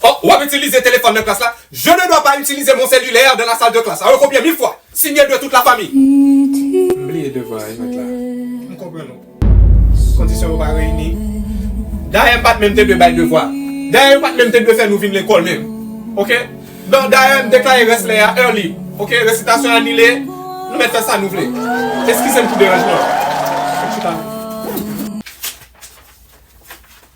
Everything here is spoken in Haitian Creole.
Fòk w ap itilize telefòn nan klas la. Je ne dois pas utiliser mon cellulaire dans la salle de classe. Sa yo kopye mil fwa. Signe de toute la famille. M bliye devwa a jwèt la. M konprann ou. Kondisyon yo pa reyini. Dayè m pa t menm te dwe bay devwa. Dayè yo pa t menm te dwe fè nou vin lekòl menm. Ok. Don dayè m deklare rès lè a early. Ok. Resitasyon anile. Nou mèt fè sa nou vle. Eskize m pou deranjman an.